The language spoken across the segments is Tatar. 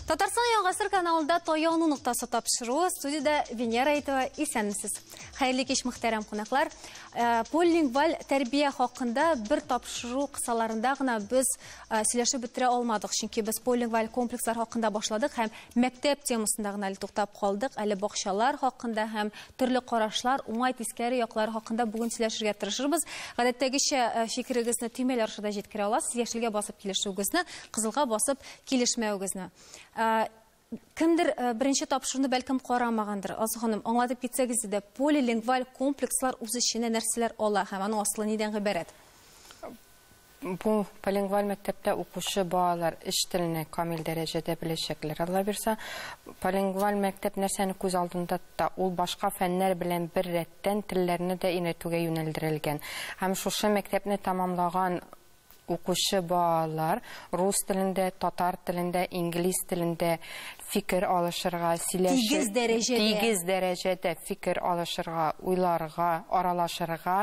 Татарстан яңгасыр каналында таяну ноктасы тапшыруы студияда Венера Әйтова исәнмесез. Хәерле кич мөхтәрәм кунаклар. Э, полилингваль тәрбия хакында бер тапшыру кысаларында гына без э, сөйләшеп бетерә алмадык, чөнки без полилингваль комплекслар хакында башладык һәм Мәктәп темасында гына әле туктап калдык. Әле бакчалар хакында һәм төрле карашлар, уңай тискәре яклары хакында бүген сөйләшергә тырышырбыз. Гадәттәгечә э, фикерегезне төймәләр аша да җиткерә аласыз. Яшелгә басып килешүегезне, кызылга басып килешмәвегезне. Э, кемдер э, беренче тапшыруны бәлкем карамагандыр алсу ханым аңлатып китсәгез иде полилингваль комплекслар үз эченә нәрсәләр ала һәм аның асылы нидән гыйбарәт Бу полингваль мәктәптә укучы балалар өч телне камил дәрәҗәдә беләчәкләр, Алла бирса. Полингваль мәктәп нәрсәне күз алдында тота? Ул башка фәннәр белән беррәттән телләрне дә өйрәтүгә юнәлдерелгән. Һәм шушы мәктәпне тәмамлаган укучы балалар рус телендә, татар телендә, инглиз телендә, фикер алышырга, сөйләшер, тигез дәрәҗәдә, тигез дәрәҗәдә фикер алышырга, уйларга, аралашырга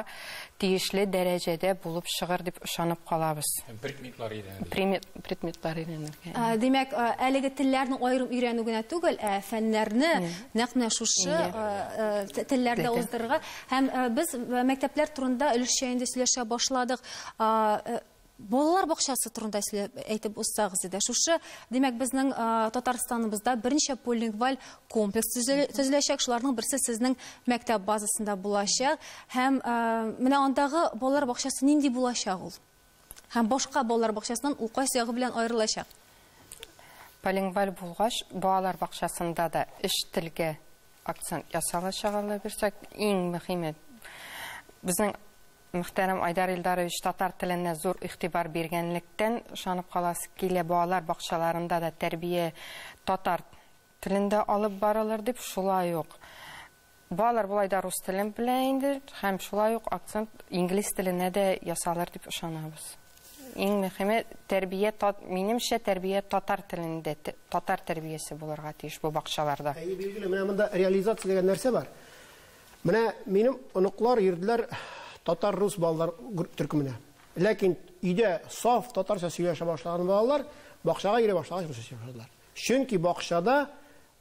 тиешле дәрәҗәдә булып чыгыр дип ышанып калабыз. Предметлар өйрәнелә. Предметлар өйрәнелгән. Ә, димәк, ә, әлеге телләрне аерым өйрәнү генә түгел, ә фәннәрне нәкъ менә шушы ә, ә, телләрдә уздырырга. Һәм ә, без мәктәпләр турында өлешчә инде сөйләшә башладык. А, ә, Балалар бакчасы турында сөйләп әйтеп узсагыз иде. Шушы, димәк, безнең Татарстаныбызда берничә полилингваль комплекс төзеләчәк. Шуларның берсе сезнең мәктәп базасында булачак. Һәм менә андагы балалар бакчасы нинди булачак ул? Һәм башка балалар бакчасыннан ул кайсы ягы белән аерылачак? Полилингваль булгач, балалар бакчасында да эш телгә акцент ясалачак, Алла бирсә. Иң мөһиме безнең Мөхтәрәм Айдар Илдарович татар теленә зур игътибар биргәнлектән ышанып каласы килә, балалар бакчаларында да тәрбия татар телендә алып барылыр дип, шулай ук балалар болай да рус телен белә инде һәм шулай ук акцент инглиз теленә дә ясалыр дип ышанабыз. Иң мөхиме тәрбия минемчә тәрбия татар телендә, татар тәрбиясе булырга тиеш бу бакчаларда. Әйе, билгеле, менә монда реализация дигән нәрсә бар. Менә минем оныклар йөрделәр татар-рус балалар төркеменә. Ләкин өйдә саф татарча сөйләшә башлаган балалар бакчага йөри башлагач русча сөйләшә башладылар. Чөнки бакчада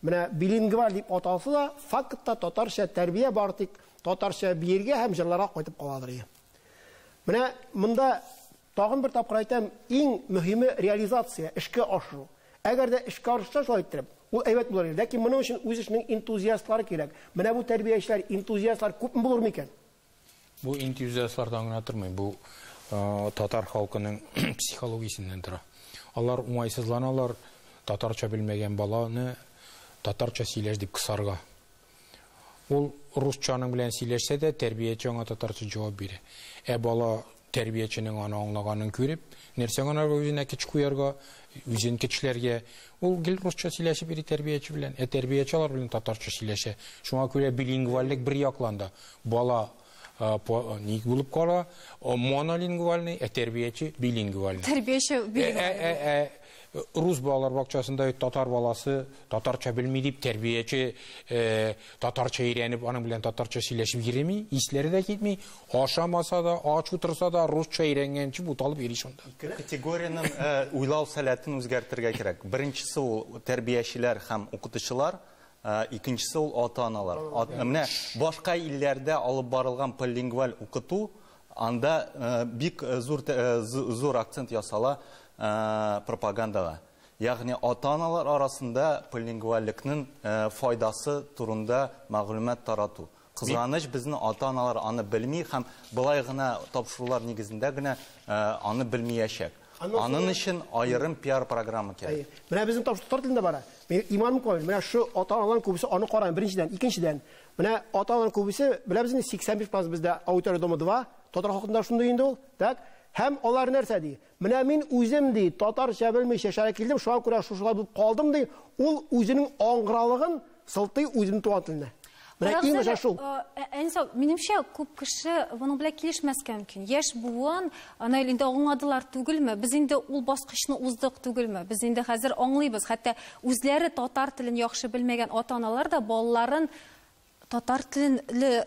менә билингваль дип аталса да, фактта татарча тәрбия бар, тик татарча биергә һәм җырларга кайтып каладыр. Менә монда Тагын бер тапкыр әйтәм, иң мөһиме реализация, эшкә ашыру. Әгәр дә эшкә арышса шулай иттереп, ул әйбәт булыр иде. Ләкин моның өчен үз эшенең энтузиастлары кирәк. Менә бу тәрбиячеләр, энтузиастлар күпме булыр микән? Бу энтузиастлардан гына тормый, бу татар халкының психологиясеннән тора. Алар уңайсызланалар татарча белмәгән баланы татарча сөйләш дип кысарга. Ул русча аның белән сөйләшсә дә, тәрбияче аңа татарча җавап бирә. Ә бала тәрбияченең аны аңлаганын күреп, нәрсә гына бу үзенә кеч куярга, үзен кечләргә, ул гел русча сөйләшеп йөри тәрбияче белән. Ә тәрбияче алар белән татарча сөйләшә. Шуңа күрә билингвальлек бер яклан да бала ник булып кала, монолингвальный, ә тәрбияче билингвальный. Тәрбияче билингвальный. Рус балалар бакчасында татар баласы татарча белми дип тәрбияче татарча өйрәнеп, аның белән татарча сөйләшеп йөреми, исләре дә китми, ашамаса да, ач утырса да русча өйрәнгәнче буталып йөри шунда. Ике категориянең уйлау сәләтен үзгәртергә кирәк. Беренчесе ул тәрбиячеләр һәм укытучылар, Ә икенчесе ул ата-аналар. Ат, менә башка илләрдә алып барылган полилингваль укыту, анда э, бик э, зур, э, зур акцент ясала э, пропагандага. Ягъни ата-аналар арасында полилингвальлекнең э, файдасы турында мәгълүмат тарату. Кызганыч, безнең ата-аналар аны белми һәм болай гына тапшырулар нигезендә генә аны белмиячәк. Анын өчен аерым пиар-программа кирәк. Менә безнең тапшыру татар телендә бара. Минем иманым камил. Менә шу ата-аналарның күбесе аны караган, беренчедән. Икенчедән, менә ата-аналарның күбесе, беләбез инде, 85 процент бездә Аудитория дома-2, татар халкында шундый инде ул, так? Һәм алар нәрсә ди? Менә мин үзем, ди, татарча белмичә шәһәргә килдем, шуңа күрә шушылай булып калдым, ди, ул үзенең аңгыралыгын сылтый үзенең туган теленә. Менә иң начар шул. Әнисә, минемчә, күп кеше моның белән килешмәскә мөмкин. Яшь буын, аны инде аңладылар түгелме? Без инде ул баскычны уздык түгелме? Без инде хәзер аңлыйбыз. Хәтта үзләре татар телен яхшы белмәгән ата-аналар да балаларын Татар телен ле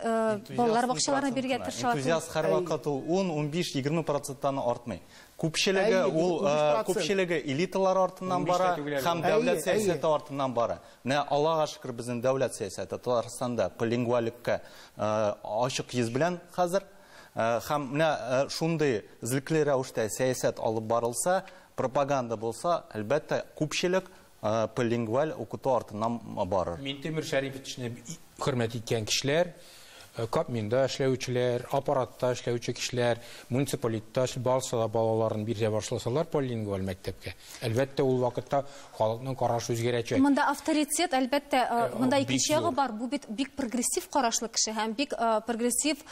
балалар бакчаларына бирергә тырышалар. Энтузиаст һәрвакыт ул ун, унбиш, егерме проценттан артмый. Күпчелеге ул күпчелеге элиталар артыннан бара һәм дәүләт сәясәте артыннан бара. Менә Аллага шөкер, безнең дәүләт сәясәте Татарстанда полингвалеккә ачык йөз белән хәзер. Һәм менә шундый эзлекле рәвештә сәясәт алып барылса, пропаганда булса, әлбәттә, күпчелек Полилингваль укыту артыннан барыр. Минтимер Шәрифовичны хөрмәт иткән кешеләр, Кабминда эшләүчеләр, аппаратта эшләүче кешеләр, муниципалитетта барысы да балаларын бирә башласалар полилингваль мәктәпкә, әлбәттә, ул вакытта халыкның карашы үзгәрәчәк. Монда авторитет, әлбәттә, монда икенче ягы бар, бу бит бик прогрессив карашлы кеше һәм бик прогрессив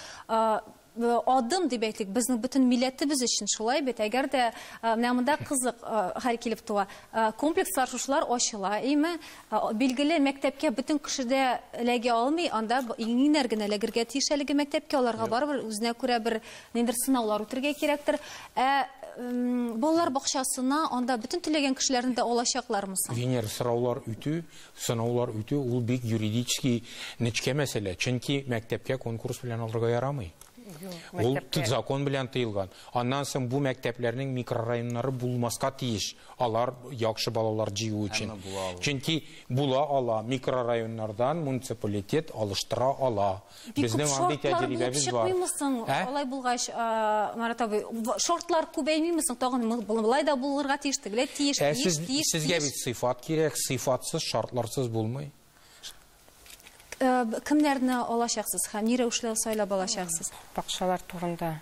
Адым дип әйтик, безнең бөтен милләтебез өчен шулай бит. Әгәр дә менә монда кызык хәл килеп туа. Комплекслар шушылар ачыла, име? Билгеле, мәктәпкә бөтен кеше дә эләгә алмый, анда иңнәр генә эләгергә тиеш әлеге мәктәпкә, аларга барыбер үзенә күрә бер ниндер сынаулар үтергә кирәктер. Ә балалар бакчасына анда бөтен теләгән кешеләрне дә алачаклармы соң? Венер, сораулар үтү, Сынаулар үтү ул бик юридически нечкә мәсьәлә, чөнки мәктәпкә конкурс белән алырга ярамый. Ул мәктәпкә... закон белән тыелган. Аннан соң бу мәктәпләрнең микрорайоннары булмаска тиеш. Алар яхшы балалар җыю өчен. Чөнки була ала, микрорайоннардан муниципалитет алыштыра ала. Бик күп Безнең андый шортлар булып тәҗрибәбез бар. чыкмыймы соң? Ә? Алай булгач, а, Марат абый, в- шортлар күбәймиме соң? Тагын мы- бу- болай да булырга тиеш, тегеләй тиеш, Ә тиеш, сез, тиеш, сезгә тиеш. бит сыйфат кирәк, сыйфатсыз, шартларсыз булмый. Э, б- Кемнәрне алачаксыз һәм ни рәвешле сайлап алачаксыз? Бакчалар турында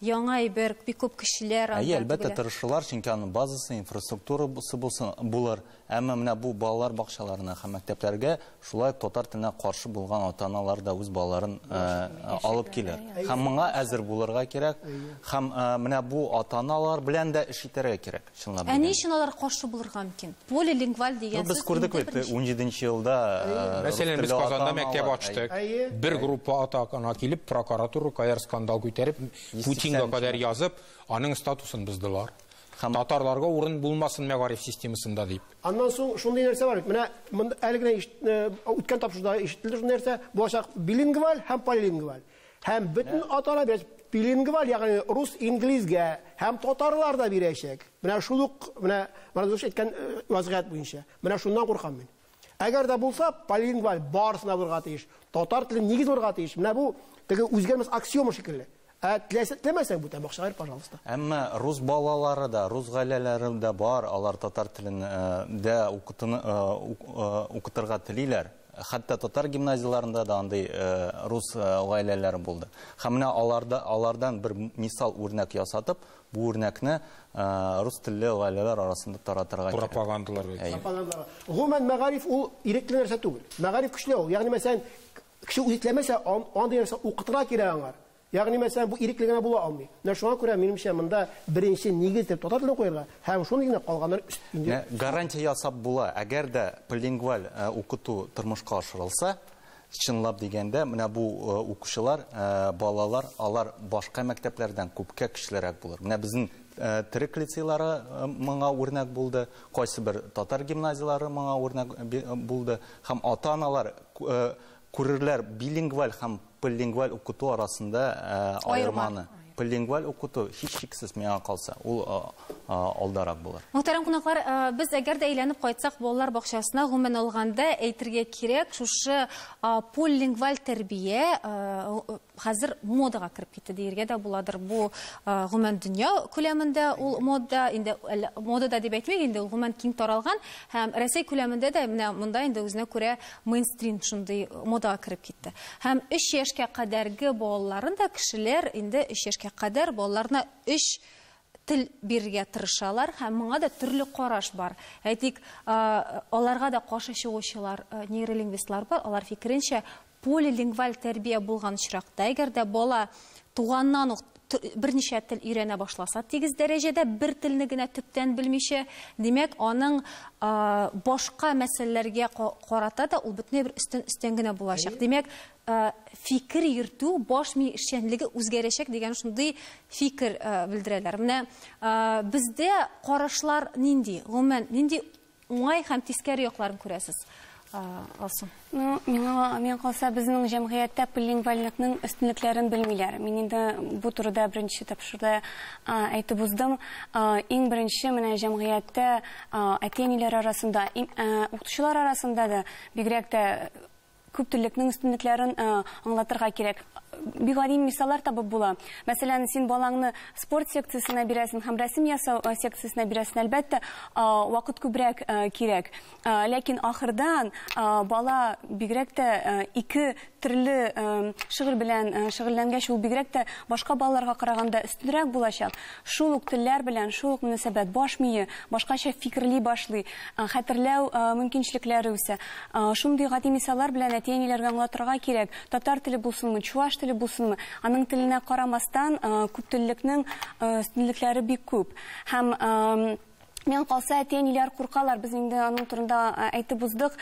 Яңа әйбер, бик күп кешеләр анда түгел. Әйе, әлбәттә, тырышырлар, чөнки аның базасы, инфраструктурасы булсын, булыр. Әмма менә бу балалар бакчаларына һәм мәктәпләргә шулай ук татар теленә каршы булган ата-аналар да үз балаларын алып килер. Һәм моңа әзер булырга кирәк. Һәм менә бу ата-аналар белән дә эш итәргә кирәк. Чынлап дигәндә. Ә ни өчен алар каршы булырга мөмкин? Полилингваль дигән сүз. Без күрдек бит, унҗиденче елда рус теле Мәсәлән, без Казанда мәктәп ачтык. Бер группа ата ана килеп, прокуратура кадәр скандал күтәреп, Путинга кадәр язып, аның статусын боздылар. Татарларга урын булмасын мәгариф системасында дип. Аннан соң шундый нәрсә бар бит. Менә әле генә үткән тапшыруда ишетелде шундый нәрсә, булачак билингваль һәм полилингваль. Һәм бөтен атана бирәчәк. Билингваль, ягъни рус, инглизгә һәм татарлар да бирәчәк. Менә шул ук, менә Морозович әйткән э, вазгыять буенча. Менә шуннан куркам мин. Әгәр дә булса, полингваль барысына булырга тиеш. Татар теле нигез булырга тиеш. Менә бу теге үзгәрмәс аксиома шикелле. Ә теләсә теләмәсәң бүтән бакчага бир, пожалуйста. Әмма рус балалары да, рус гаиләләре дә бар, алар татар телен э, дә укытыны э, э, укытырга телиләр. Хәтта татар гимназияләрендә дә андый рус гаиләләре булды. Һәм менә аларда алардан бер мисал үрнәк ясатып, бу үрнәкне рус телле гаиләләр арасында таратырга кирәк. Пропагандалар Пропагандалар. Гомумән мәгариф ул ирекле нәрсә түгел. Мәгариф көчле ул. Ягъни мәсәлән, кеше үзе теләмәсә, андый нәрсә укытырга кирәк аңар. Ягъни, мәсәлән, бу ирекле генә була алмый. Менә шуңа күрә, минемчә, монда беренче нигез итеп татар телен куярга һәм шундый генә калганнар өстенлек. Менә гарантия ясап була, әгәр дә полилингваль укыту тормышка ашырылса, чынлап дигәндә, менә бу укучылар, балалар, алар башка мәктәпләрдән күпкә көчлерәк булыр. Менә безнең төрек лицейлары моңа үрнәк булды, кайсыбер татар гимназияләре моңа үрнәк булды һәм ата-аналар Күрерләр билингваль һәм полилингваль укыту арасында аерманы. Полилингваль укыту, һичшиксез, миңа калса, ул алдарак булыр. Мөхтәрәм кунаклар, без әгәр дә әйләнеп кайтсак балалар бакчасына, гомумән алганда, әйтергә кирәк, шушы полилингваль тәрбия, хәзер модага кереп китте диергә дә буладыр. Бу гомумән дөнья күләмендә ул мода, инде модада дип әйтмик, инде ул гомумән киң таралган һәм Рәсәй күләмендә дә менә монда инде үзенә күрә мейнстрим шундый модага кереп китте. Һәм 3 яшькә кадәрге балаларын да кешеләр инде 3 яшькә кадәр балаларына 3 тел бирергә тырышалар һәм моңа да төрле караш бар. Әйтик, аларга да каршы чыгучылар нейролингвистлар бар, алар фикеренчә Полилингваль тәрбия булган очракта, әгәр дә бала туганнан ук берничә тел өйрәнә башласа, тигез дәрәҗәдә, бер телне генә төптән белмичә, димәк, аның башка мәсьәләләргә карата да ул бөтенләй бер өстен өстен генә булачак. Димәк, фикер йөртү, баш ми эшчәнлеге үзгәрәчәк дигән шундый фикер белдерәләр. Менә бездә карашлар нинди, гомумән, нинди Уңай һәм тискәре якларын күрәсез. Алсу. Ну, миңа миңа калса, безнең җәмгыятьтә полилингвальлыкның өстенлекләрен белмиләр. Мин инде бу турыда беренче тапшыруда әйтеп уздым. Иң беренче менә җәмгыятьтә әти-әниләр арасында, укытучылар арасында да бигрәк тә күп теллекнең өстенлекләрен аңлатырга кирәк. Бик гади мисаллар табып була. Мәсәлән, син балаңны спорт секциясенә бирәсең һәм рәсем ясау секциясенә бирәсең, әлбәттә, вакыт күбрәк кирәк. Ләкин ахырдан бала бигрәк тә ике төрле шөгыль белән шөгыльләнгәч, ул бигрәк тә башка балаларга караганда өстенрәк булачак. Шул ук телләр белән шул ук мөнәсәбәт, баш мие башкача фикерли башлый, хәтерләү мөмкинчелекләре үсә. Шундый гади мисаллар белән әти-әниләргә аңлатырга кирәк, татар теле булсынмы, чуаш теле булсынмы, аның теленә карамастан, күптеллекнең өстенлекләре бик күп. Һәм, миңа калса, әти-әниләр куркалар, без инде аның турында әйтеп уздык.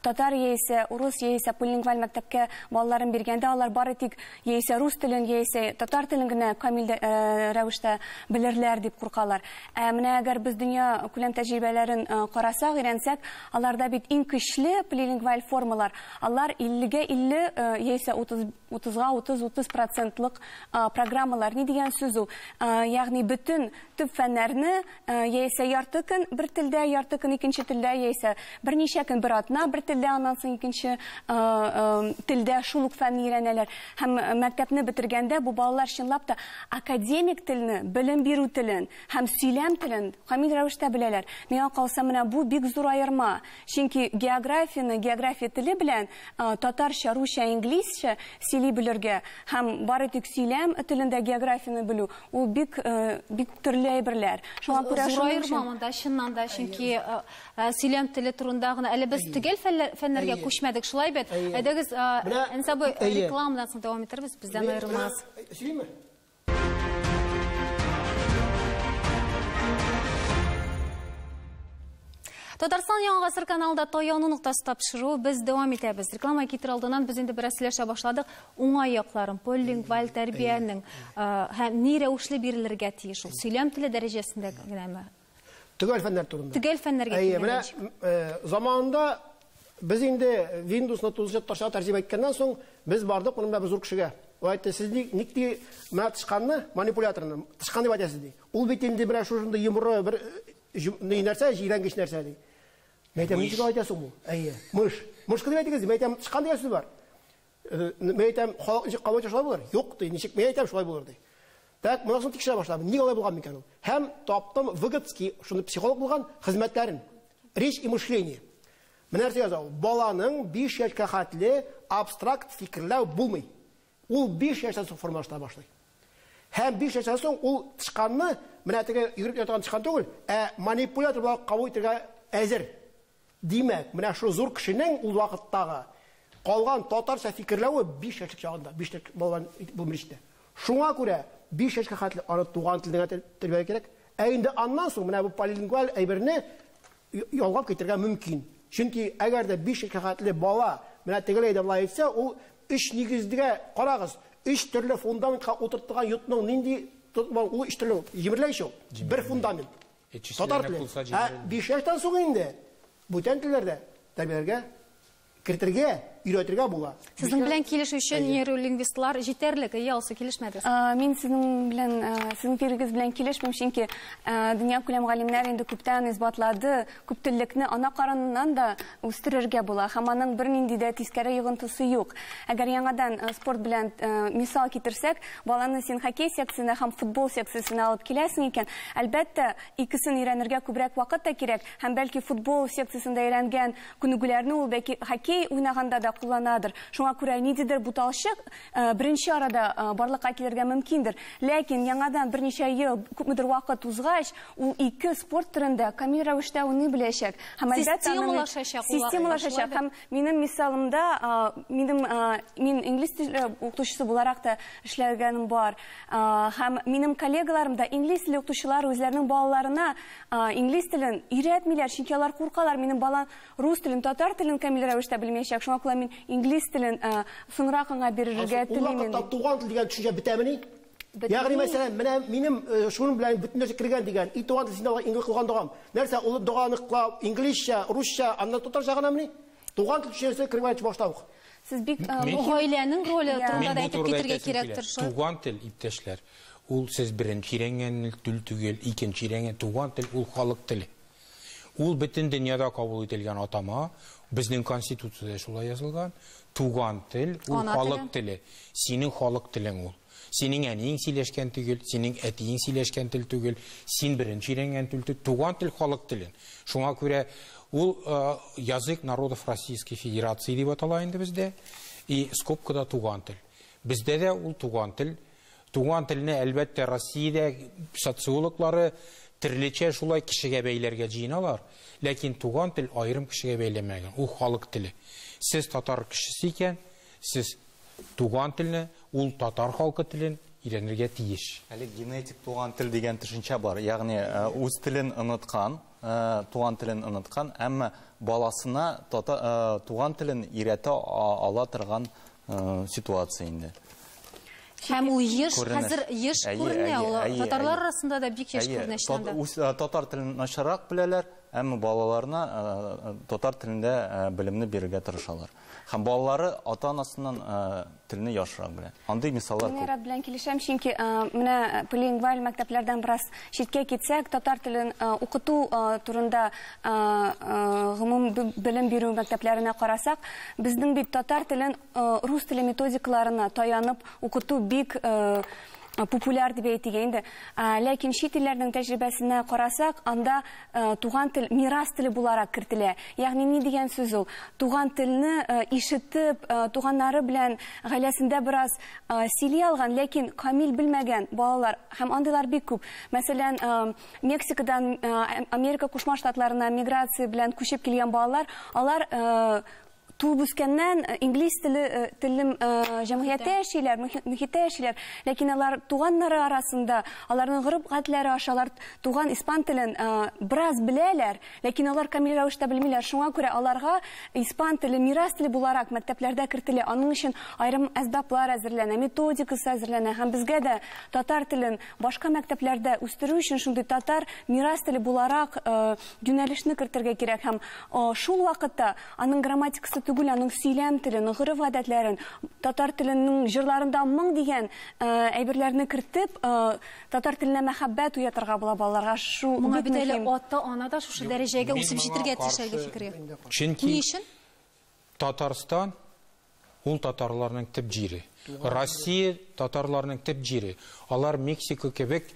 Татар яисә урыс, яисә полилингваль мәктәпкә балаларын биргәндә, алар бары тик яисә рус телен, яисә татар телен генә камил рәвештә белерләр дип куркалар. Ә менә әгәр без дөнья күләм тәҗрибәләрен карасак, өйрәнсәк, аларда бит иң көчле полилингваль формалар, алар 50 гә 50 яисә 30, 30 га 30, 30 процентлык программалар. Ни дигән сүз ул? Ягъни бөтен төп фәннәрне яисә ярты көн бер телдә, ярты көн икенче телдә, яисә берничә көн бер атна бер телдә, аннан соң икенче телдә шул ук фәнне өйрәнәләр. Һәм мәктәпне бетергәндә бу балалар чынлап та академик телне, белем бирү телен һәм сөйләм телен камил рәвештә беләләр. Миңа калса, менә бу бик зур аерма. Чөнки географияне география теле белән, татарча, русча, инглизчә сөйли белергә һәм бары тик сөйләм телендә географияне белү, Ул бик э, бик төрле әйберләр. Шуңа күрә зураерма монда чыннан да, чөнки э, э, сөйләм теле турында гына әле без төгәл фәннәргә күчмәдек, шулай бит. Әйдәгез, Әнсабы рекламадан соң дәвам итәрбез, бездән аерылмас. Сөйлиме? Татарстан яңа гасыр каналда таяну ноктасы тапшыру без дәвам итәбез. Реклама китер алдыннан без инде бераз сөйләшә башладык. Уңай якларын, полилингваль тәрбиянең һәм ни рәвешле бирелергә тиеш ул? Сөйләм теле дәрәҗәсендә генәме? Төгәл фәннәр турында. Төгәл фәннәргә килгәндә. Менә заманында без инде Windows-ны тулысынча татарчага тәрҗемә иткәннән соң, без бардык моның белән бер зур кешегә. Ул әйтте, сез ник ник ди менә тычканны, манипуляторны, тычкан дип әйтәсез ди. Ул бит инде менә шушындый йомры бер ни нәрсә, җирәнгеч нәрсә ди. Мәйтәм, ничек әйтәсең бу? Әйе, мыш. Мышкы дип әйтегез, мәйтәм, тычкан дигән сүз бар. Мин әйтәм, халык ничек кабул итә шулай булыр? Юк ди, ничек мин әйтәм шулай булыр ди. Так, монысын тикшерә башладым. Ник алай булган микән ул? Һәм таптым Выгодский, шуны психолог булган, хезмәтләрен. Речь и мышление. Менә нәрсә яза ул. Баланың 5 яшькә хәтле абстракт фикерләү булмый. Ул 5 яшьтән соң формалаша башлый. Һәм 5 яшьтән соң ул тычканны, менә теге йөгереп ятаган тычкан түгел, ә манипулятор буларак кабул итәргә әзер. Димәк, менә шул зур кешенең ул вакыттагы калган татарча фикерләве биш яшьлек чагында, биш яшьлек балалар булмый җитә. Шуңа күрә биш яшькә хәтле аны туган телдә генә тәрбияләргә кирәк. Ә инде аннан соң менә бу полилингваль әйберне ялгап китергә мөмкин. Чөнки әгәр дә биш яшькә хәтле бала менә тегеләй дә болай әйтсә, ул өч нигездә карагыз, өч төрле фундаментка утыртылган йортның нинди ул өч төрле җимерелә ич ул. Бер фундамент. Татар теле. Ә биш яшьтән соң инде бүтән телләр дә тәрбияләргә, кертергә, өйрәтергә була. Сезнең белән килешүче нейролингвистлар җитәрлек, әйе, алсу, килешмәгез? Мин сезнең белән, сезнең фикерегез белән килешмим, чөнки дөньякүләм галимнәр инде күптән исбатлады, күптеллекне ана карыныннан да үстерергә була һәм аның бернинди дә тискәре йогынтысы юк. Әгәр яңадан спорт белән мисал китерсәк, Баланы син хоккей секциясенә һәм футбол секциясенә алып киләсең икән, әлбәттә, икесен өйрәнергә күбрәк вакыт та кирәк, һәм бәлки футбол секциясендә өйрәнгән күнегүләрне ул бәки хоккей уйнаганда да кулланадыр. Шуңа күрә ниндидер буталчык беренче арада барлыкка килергә мөмкиндер. Ләкин яңадан берничә ел, күпмедер вакыт узгач, ул ике спорт төрендә камил рәвештә уйный беләчәк һәм, әлбәттә, аның системалашачак. Минем мисалымда, минем, мин инглиз теле укытучысы буларак та эшләгәнем бар. Һәм минем коллегаларым да инглиз теле укытучылар үзләренең балаларына инглиз телен өйрәтмиләр, чөнки алар куркалар, минем балам рус телен, татар телен камил рәвештә белмәячәк, шуңа күрә мин инглиз телен соңрак аңа бирергә телим. Ул вакытта туган тел дигән төшенчә бетәмени? Ягъни мәсәлән, менә минем э, шуның белән бөтен нәрсә кергән дигән. И туган син дога иңге кылган догам. Нәрсә ул доганы кылау инглизчә, русча, аннан татарча гына мени? Туган тел төшенчәсе кергән башта ук. Сез бик э, Мин- гаиләнең роле турында Мин да бу әйтеп турыда китергә әйтәсем кирәк килә. торшы. Туган тел, иптәшләр, ул сез беренче өйрәнгән тел түгел, икенче өйрәнгән туган тел ул халык теле. Ул бөтен дөньяда кабул ителгән атама, безнең конституциядә дә шулай язылган, туган тел, ул Ана халык теле. теле. Синең халык телең ул. Синең әниең сөйләшкән төгел, синең әтиең сөйләшкән тел түгел, син беренче өйрәнгән тел тү, туган тел халык телен. Шуңа күрә ул э, язык народов Российской Федерации дип атала инде бездә. И скобкада туган тел. Бездә дә ул туган тел Туган телне, әлбәттә, Россиядә социологлары терлечә шулай кешегә бәйләргә җыеналар, ләкин туган тел аерым кешегә бәйләмәгән, ул халык теле. Сез татар кешесе икән, сез туган телне, ул татар халкы телен өйрәнергә тиеш. Әле генетик туган тел дигән төшенчә бар, ягъни үз телен оныткан, туган телен оныткан, әмма баласына туган телен өйрәтә ала торган ситуация инде. Һәм ул еш, хәзер еш күренә, ул татарлар арасында да бик еш күренә чынында. Татар телен начаррак беләләр, әмма балаларына татар телендә белемне бирергә тырышалар. Һәм балалары ата-анасыннан телне яхшырак белә. Андый мисаллар күп. Мин белән килешәм, чөнки менә полилингваль мәктәпләрдән бераз читкә китсәк, татар телен укыту турында гомуми белем бирү мәктәпләренә карасак, безнең бит татар телен рус теле методикаларына таянып укыту бик популяр дип әйтик инде. Ләкин чит илләрнең тәҗрибәсенә карасак, анда Туган тел мирас теле буларак кертелә. Ягъни ни дигән сүз ул? Туган телне ишетеп, туганнары белән гаиләсендә бераз сөйли алган, ләкин камил белмәгән балалар һәм андыйлар бик күп. Мәсәлән, Мексикадан Америка Кушма Штатларына миграция белән күчеп килгән балалар, алар Туып үскәннән инглиз теле телем җәмгыятьтә яшиләр, мөхиттә яшиләр, ләкин алар туганнары арасында, аларның гореф-гадәтләре аша алар туган испан телен бераз беләләр, ләкин алар камил рәвештә белмиләр. Шуңа күрә аларга испан теле мирас теле буларак мәктәпләрдә кертелә. Аның өчен аерым әсбаплар әзерләнә, методикасы әзерләнә һәм безгә дә татар телен башка мәктәпләрдә үстерү өчен шундый татар мирас теле буларак юнәлешне кертергә кирәк һәм шул вакытта Аның грамматикасы түгел, аның сөйләм телен, гореф-гадәтләрен, татар теленең җырларында моң дигән әйберләрне кертеп, татар теленә мәхәббәт уятырга була балаларга. Шу бик мөһим. Моңа бит әле ата-ана да шушы дәрәҗәгә үсеп җитергә тиеш әлеге фикергә. Чөнки Ни өчен? Татарстан Ул татарларның төп җире. Россия татарларның төп җире. Алар Мексика кебек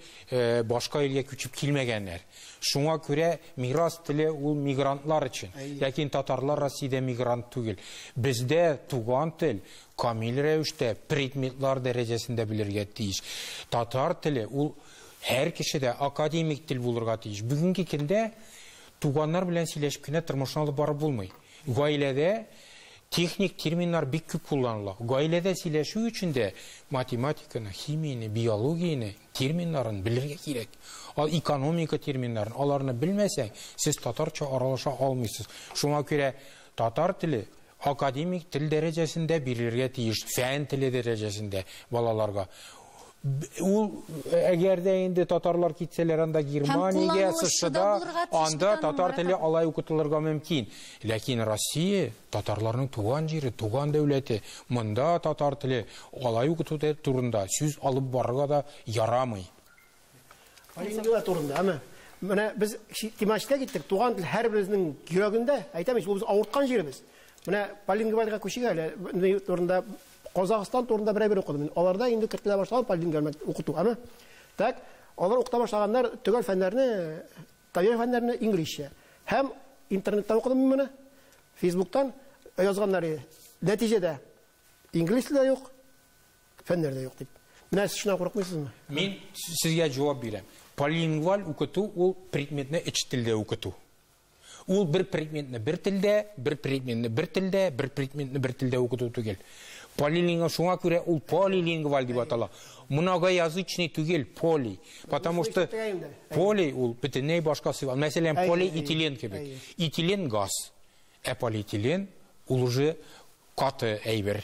башка илгә күчеп килмәгәннәр. Шуңа күрә мирас теле ул мигрантлар өчен. Ләкин татарлар Россиядә мигрант түгел. Бездә туган тел камил рәвештә предметлар дәрәҗәсендә белергә тиеш. Татар теле ул һәр кешедә академик тел булырга тиеш. Бүгенге көндә туганнар белән сөйләшеп кенә тормышны алып барып булмый. Гаиләдә техник терминнар бик күп кулланыла. Гаиләдә сөйләшү өчен дә математиканы, химияне, биологияне терминнарын белергә кирәк. Ал экономика терминнарын, аларны белмәсәң, сез татарча аралаша алмыйсыз. Шуңа күрә татар теле академик тел дәрәҗәсендә бирелергә тиеш, фән теле дәрәҗәсендә балаларга. Ул, әгәр дә инде татарлар китсәләр анда Германиягә, США-да, анда татар теле алай укытылырга мөмкин. Ләкин Россия татарларның туган җире, туган дәүләте. Монда татар теле алай укыту турында сүз алып барырга да ярамый. Полиглота турында, әмма менә без тематикага киттек. Туган тел һәрберебезнең йөрәгендә, әйтәм ич, ул без авырткан җиребез. Менә полиглотага күчик әле, турында Казахстан турында берәр бер укыдым мин. Аларда инде кертелә башлаган полингермат укыту, әме. Так, алар укыта башлаганнар төгәл фәннәрне, табигый фәннәрне инглизчә. Һәм интернеттан укыдым мин моны. Фейсбуктан язганнар иде. Нәтиҗәдә инглиз теле юк, фәннәр дә юк дип. Менә сез шуннан курыкмыйсызмы? Мин сезгә җавап бирәм. Полингваль укыту ул предметны эч телдә укыту. Ул бер предметны бер телдә, бер предметны бер телдә, бер предметны бер телдә укыту түгел. Полилингвал шуңа күрә ул полилингваль дип атала. Многоязычный түгел, поли. Потому что поли ул бөтенләй башка сыйфат. Мәсәлән, полиэтилен кебек. Этилен газ, ә полиэтилен ул уже каты әйбер.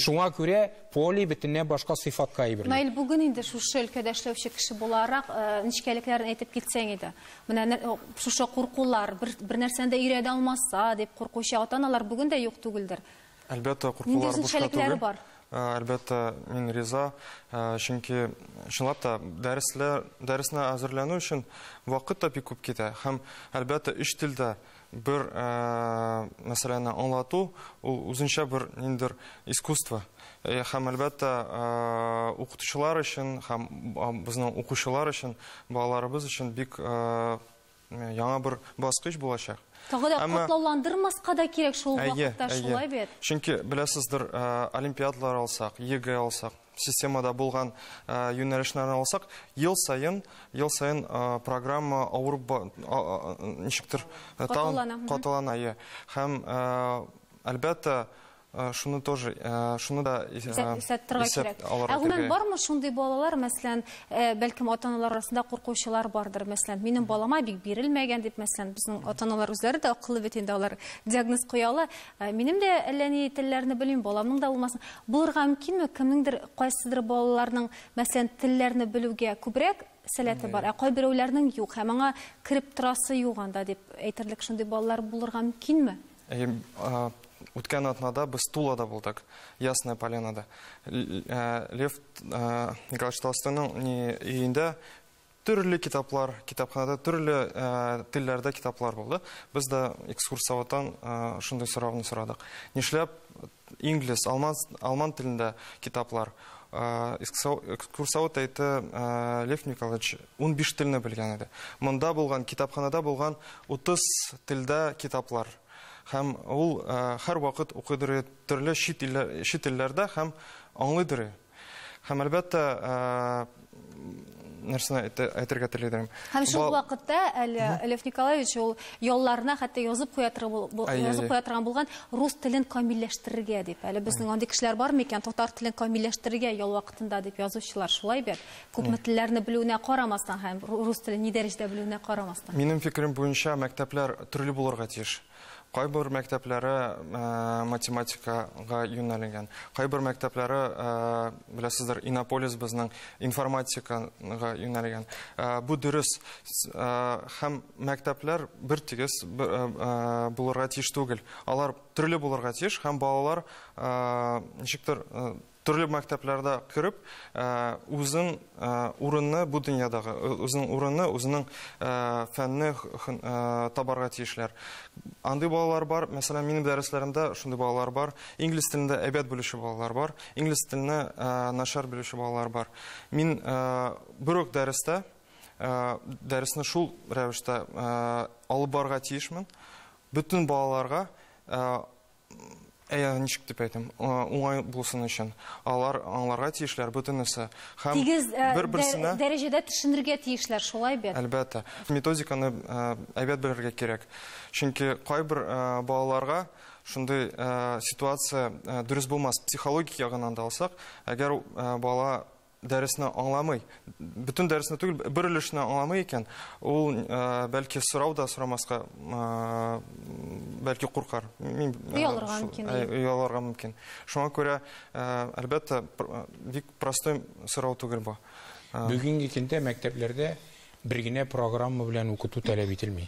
Шуңа күрә поли бөтенләй башка сыйфатка әйберләр. Наил бүген инде шушы өлкәдә эшләүче кеше буларак, э, нечкәлекләрен әйтеп китсәң иде. Менә э, шушы куркулар, бер, бер нәрсәне дә өйрәнә алмаса дип куркучы ата-аналар бүген дә юк түгелдер. Әлбәттә, куркулар бушка түгел. бар? Э, әлбәттә, мин риза, чөнки чынлап та дәресләр, дәресне әзерләнү өчен вакыт та бик күп китә. Һәм әлбәттә, өч телдә Бер мәсьәләне аңлату, ул үзенчә бер ниндер искусство. Һәм әлбәттә, укытучылар өчен һәм безнең укучылар өчен, балаларыбыз өчен бик яңа бер баскыч булачак. Тагы да котлауландырмаска да кирәк шул вакытта, шулай бит? Чөнки, беләсездер, олимпиадалар алсак, ЕГЭ алсак, Системада булган юнәлешләрне алсак, ел саен, ел саен программа авырып ничектер катылана. Катылана, иә. Һәм әлбәттә Э, шуны тоже э, шуны да э, исәптергә кирәк ә гомумән бармы шундый балалар мәсәлән бәлкем ата аналар арасында куркучылар бардыр мәсәлән минем балама бик бирелмәгән дип мәсәлән безнең ата аналар үзләре дә акыллы бит инде алар диагноз куя ала Ә минем дә әллә ни телләрне белмим, баламның да булмасын. Булырга мөмкинме, кемнеңдер кайсыдыр балаларның, мәсәлән, телләрне белүгә күбрәк сәләте бар, ә кайберәүләрнең юк, һәм аңа кереп торасы юк анда дип әйтерлек шундый балалар булырга мөмкинме? Әйе, үткән атнада без Тулада булдык, Ясная Полянада. Лев Николаевич Толстойның өендә Төрле китаплар, китапханада төрле телләрдә китаплар булды. Без дә экскурсоводтан шундый сорауны сорадык. Нишләп инглиз, алман, алман телендә китаплар? экскурсовод әйтте лев николаевич ун биш телне белгән иде монда булган китапханада булган утыз телдә китаплар һәм ул һәрвакыт укыдыры төрле чит илләрдә һәм аңлыйдыры Һәм әлбәттә, нәрсәне әйтергә телидем. Һәм шул вакытта әле Лев Николаевич ул ялларына хәтта язып куя язып куя торган булган рус телен камилләштерергә дип. Әле безнең андый кешеләр бар микән? Татар телен камилләштерергә ял вакытында дип язучылар шулай бит. Күпме телләрне белүенә карамастан һәм рус телен ни дәрәҗәдә белүенә карамастан. Минем фикерем буенча мәктәпләр төрле булырга тиеш. Кайбер мәктәпләре математикага юнәлгән. Кайбер мәктәпләре, беләсездер, Иннополис безнең информатикага юнәлгән. Бу дөрес. Һәм мәктәпләр бер тигез булырга тиеш түгел. Алар төрле булырга тиеш һәм балалар ничектер Төрле мәктәпләрдә кереп, үзен урынны бу дөньядагы, үзен урынны, үзенең фәнне табарга тиешләр. Андый балалар бар, мәсәлән, минем дәресләремдә шундый балалар бар. Инглиз телендә әйбәт белүче балалар бар, инглиз теленә начар белүче балалар бар. Мин бер үк дәрестә дәресне шул рәвештә алып барырга тиешмен. Бөтен балаларга ничек дип әйтим, уңай булсын өчен, алар аңларга тиешләр бөтенесе. Һәм Тигез бер-берсенә дәрәҗәдә төшенергә тиешләр, шулай бит? Әлбәттә. Методиканы әйбәт белергә кирәк. Чөнки кайбер балаларга шундый ситуация дөрес булмас. Психологик ягыннан да алсак, әгәр бала дәресне аңламый, бөтен дәресне түгел, бер өлешне аңламый икән, ул э, бәлки сорау да сорамаска э, бәлки куркар. Мин э, оялырга мөмкин. Оялырга мөмкин. Шуңа күрә әлбәттә бик простой сорау түгел бу. Бүгенге көндә мәктәпләрдә бер генә программа белән укыту таләп ителми.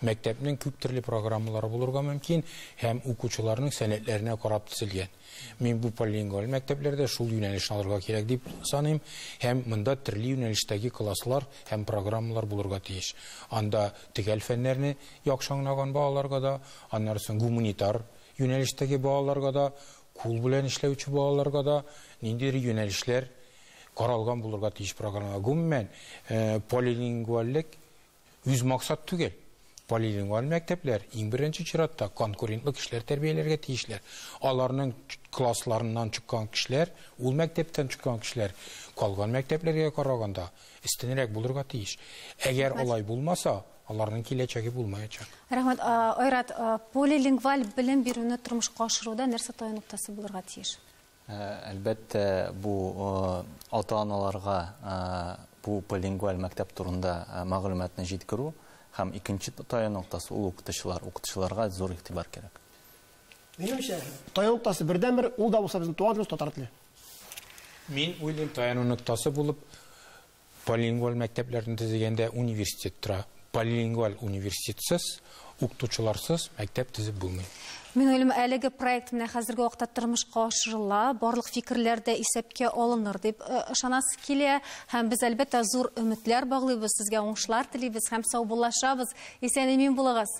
Мәктәпнең күп төрле программалары булырга мөмкин һәм укучыларның сәләтләренә карап төзелгән. Мин бу полилингваль мәктәпләрдә шул юнәлешне алырга кирәк дип саныйм, һәм монда төрле юнәлештәге класслар һәм программалар булырга тиеш. Анда төгәл фәннәрне яхшы аңлаган балаларга да, аннары соң гуманитар юнәлештәге балаларга да, кул белән эшләүче балаларга да ниндидер юнәлешләр каралган булырга тиеш программалар. Гомумән, э, полилингвальлек Үз максат түгел. Полилингваль мәктәпләр, иң беренче чиратта, конкурентлы кешеләр тәрбияләргә тиешләр. Аларның классларыннан чыккан кешеләр, ул мәктәптән чыккан кешеләр калган мәктәпләргә караганда өстенрәк булырга тиеш. Әгәр алай булмаса, аларның киләчәге булмаячак. Рәхмәт. Айрат, полилингваль белем бирүне тормышка ашыруда нәрсә таян ноктасы булырга тиеш? Әлбәттә, бу ата-аналарга бу полингваль мәктәп турында мәгълүматны җиткерү һәм икенче таян ноктасы ул укытучылар. Укытучыларга зур игътибар кирәк. Минемчә, таян ноктасы бердәнбер, ул да булса безнең туган телебез, татар теле. Мин уйлыйм, таяну ноктасы булып, Полилингваль мәктәпләрне төзегәндә университет тора. Полилингваль университетсыз, укытучыларсыз мәктәп төзеп булмый. Мингөлем, әлеге проект менә хәзерге вакытта тормышка ашырыла, барлык фикерләр дә исәпкә алыныр дип э, ышанасы килә. Һәм без, әлбәттә, зур өметләр баглыйбыз, сезгә уңышлар телибез һәм саубуллашабыз. Исән-имин булыгыз!